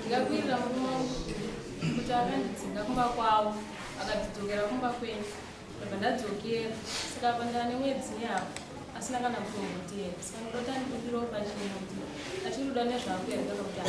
ndikakwirira murume wangu kuti akandidzinga kumba kwavo akadzidzokera kumba kwenyu ndobva ndadzokera saka pa ndava nemwedzi nehafu asina kana kutombotera saka ndodota ndikudiropa chino kuti achirikuda nezvako here kana kuti aa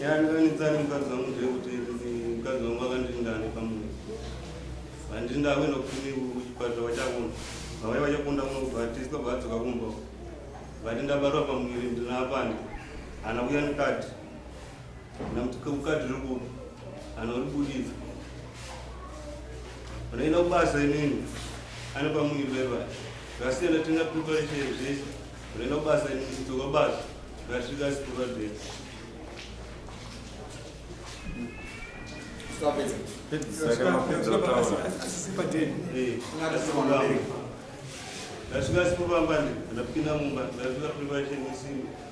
Nyanikanitsani mukadzi wangu ndeyekuti mukadzi wangu akandindane pamunhu handiri ndakuenda kufuni kuchipatara vachakunda vavai vachakunda kunobatiswa vadzoka kumba vati ndabatwa pamuviri ndinapande hana kuya nikati Nakuti kemukadzi rekupi anoribudidza unoenda kubasa inini anopa muviri wevana zvasiyana tinga preparation zvese unoenda kubasa inini kudzoka basa ngasvika sikurwa zvese ndasvika sikuramba ndapinda mumba ndasvika preparation isini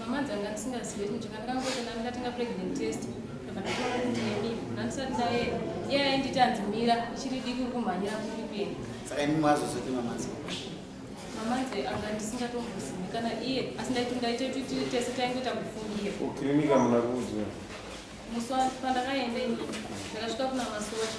mama dzanga ndisingazive chinhu changa ndakangotenda ndikatenga pregnant test ndobva ndatoona kuti nemi ndandisati ndaenda iye ainditi hanzi mira ichiri diki uri kumhanyira kuri kuenda saka imi mwazozoti mamanzi mamanzi anga ndisingatombozivi kana iye asi ndaiti ndaita kuti tese taingoita kufungira ukirinika muna kuudzwa musi pandakaenda ini ndakasvika kuna masocha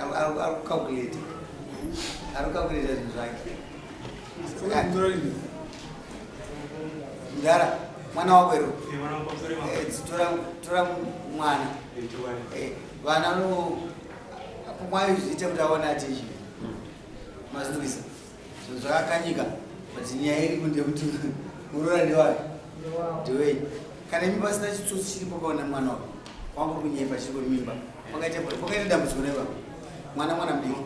arikucalculate arikucalculate zvinhu zvake mdara mwana wako ero eh, tora mwana eh, vana no apomwayo zviite kuti aone atizvi mazvinzwisa zvakakanyika but nyaya iri kunde kuti muroora ndewake ndewei kana imi pasina chitsotsi chiri pakaona mwana wako wangu kunyepa chiri kwemimba pakaita pakaita dambudziko reva mwana mwana mdiki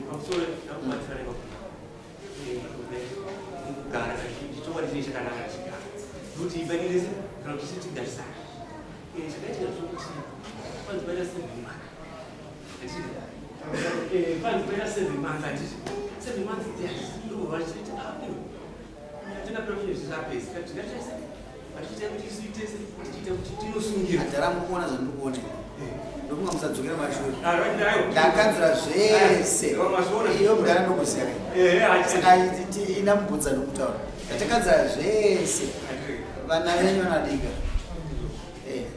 ndokunga musadzokera mashure ndakanzira zvese iyo mudana ndokuziya saka ina mubvunza nokutaura ndatakanzira zvese vana venyu vanadika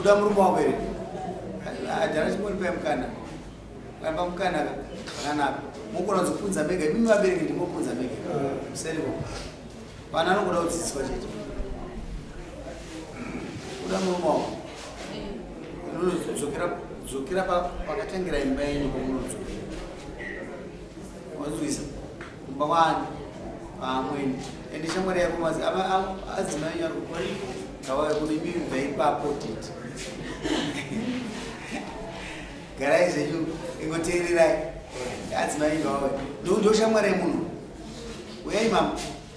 Uda murume wako here? Adhara chimwe ndipai mukana. Ramba mukana ka. Kana mukona kuzopunza mega. Mimi vabereki ndimopunza mega. Seriko. Vana anokuda kudzidziswa chete. Uda murume wako. Unozokera zokera pakatangira imba yenyu kwamunozokera. Wanzwisa? kumba kwani amweni ende shamwari yako mazi adzimai nyaro kawai kune mimi bvaipapotiti garai zvenyu ingoteererai adzimai vawe ndoshamwari yemunhu uyai mama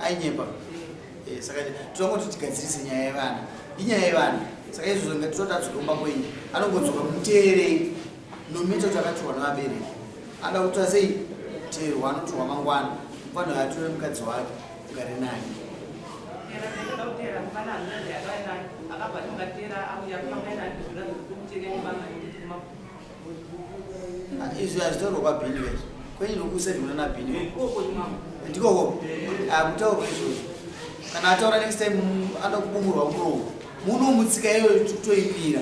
ainyepa eh, saka tinongo tichigadzirise nyaya yevana inyaya yevana saka izvozvo ngatitoti azokomba kwenyu anongodzoka muteerei nomita kuti akatorwa nevabereki anoda kutora sei teerwa anotorwa mangwana mufana uyo atore mukadzi wake ugare naye izvi hazvitaurwa kwabhini vese kwenye nokusa zvimuna nabhini ndikoko akutaurwa ah, izvozvo kana ataura next time anoda kubumurwa muromo muno mutsika iyoyo toimira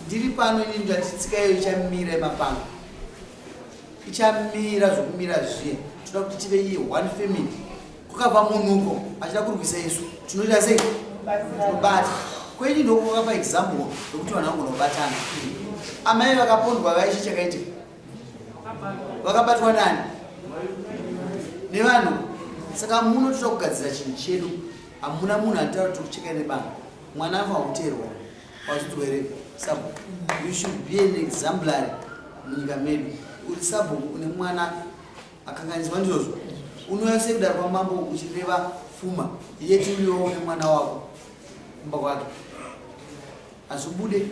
ndiri pano ini ndati tsika iyoyo ichamira imapanga ichamira zvokumira zviye toda kuti tive iye one family kukabva munhu uko achida kurwisa isu tinoita sei tinobata kweini ndokukapa example yokuti vanhu vangona kubatana amai vakapondwa vaichi chakaitika vakabatwa nani nevanhu saka muno toda kugadzira chinhu chedu hamuna munhu anotaura kuti tikucheka nebanga mwana afa kuteerwa wadzidzwa here sabhuku you should be an exemplary munyika medu uri sabhuku une mwana Akanganizwa ndizvozvo. Unouya sei kudaro kwamambo uchireva fuma yeti uyowo nemwana wako kumba kwake hazvibude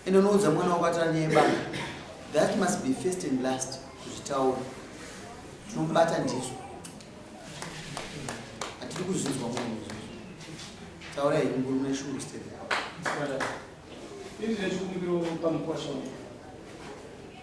ende unoudza mwana wako atira nyaya yebanga that must be first and last kuzvitaura tinomubata ndizvo hatiri kuzvinzwa munhu izvozvo taura here mukuru mune shungu stere Ini ndine chikumbiro pamukwasha uyu.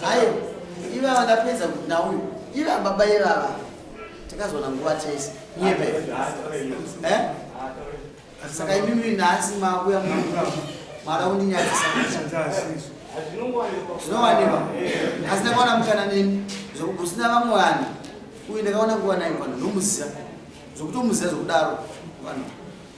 hayo ivava ndapedza kuti nauyu iva baba ivava takazoona nguva tese nyebe eh? saka imimi nhasi makuya mara undinyadzisa zvinowanikwa asi ndakaona mukana neni zvokuti usina vamwe vanhu uyu ndakaona kuva naye vanhu nomuziva zvokuti omuziva zvokudaro vanhu